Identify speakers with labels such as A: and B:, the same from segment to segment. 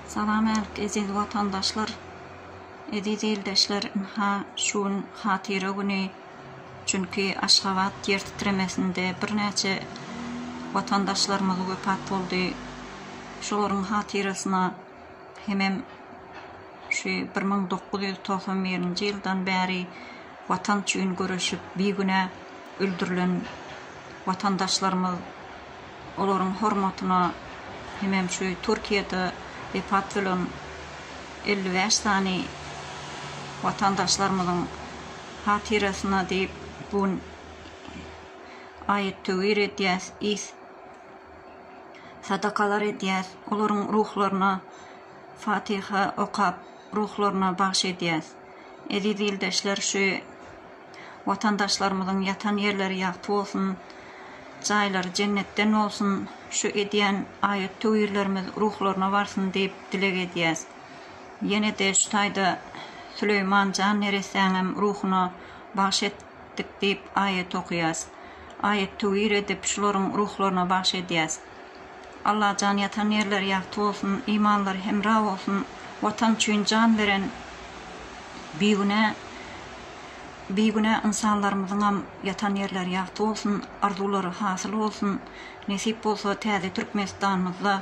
A: Salam äl eziz watandaşlar eziz ildeşler ynha şu gün hatyra güni çünki aşgabat ýer titremesinde birnäçe watandaşlarymyz wepat boldy şolaryň hatyrasyna hemem şu bir müň dokuz ýüz togsan birinji ýyldan bäri Watan üçin göreşip bigünä öldürilen watandaşlarymyz, olaryň hormatyna hemem şu Türkiýede wepat bolan elli bäş sany watandaşlarymyzyň hatyrasyna diýip bu gün aýat-töwir edýäs, is sadakalar edýäs, olaryň ruhlaryna fatyha okap, ruhlaryna bagyş edýäs. Eziz ildeşler şu Watandaşlarymyzyň ýatan ýerleri ýagty bolsun, jaýlary jennetden bolsun, şu edýän aýat töwirlerimiz ruhlaryna barsyn diýip dileg edýäs. Ýene-de şu taýda Süleýman jan neressäňem ruhuna bagş etdik diýip aýat okaýas. Aýat töwir edip şularyň ruhlaryna bagş edýäs. Allajan ýatan ýerleri ýagty bolsun imanlary hemra bolsun watan üçin jan beren bigünä bigünä ynsanlarymyzyňam ýatan ýerleri ýagty bolsun arzuwlary hasyl bolsun nesip bolsa täze Türkmenistanymyzda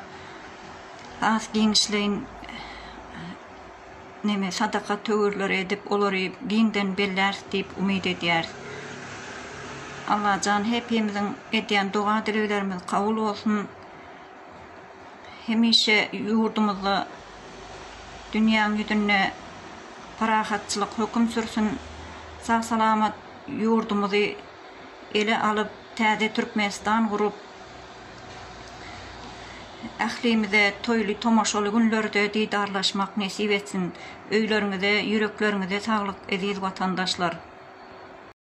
A: has giňişleýin neme sadaka töwirleri edip olary giňden belläris diýip umyt edýäris. Allajan hepimiziň edýän doga dileglerimiz kabul bolsun. Hemişe ýurdumyzda dünýäň ýüzünde parahatçylyk höküm sürsün. Sag salamat ýurdumyzy ele alyp täze Türkmenistan gurup. Ählimize toýly tomaşaly günlerde didarlaşmak nesip etsin! Öýleriňize, ýürekleriňize saglyk, eziz watandaşlar!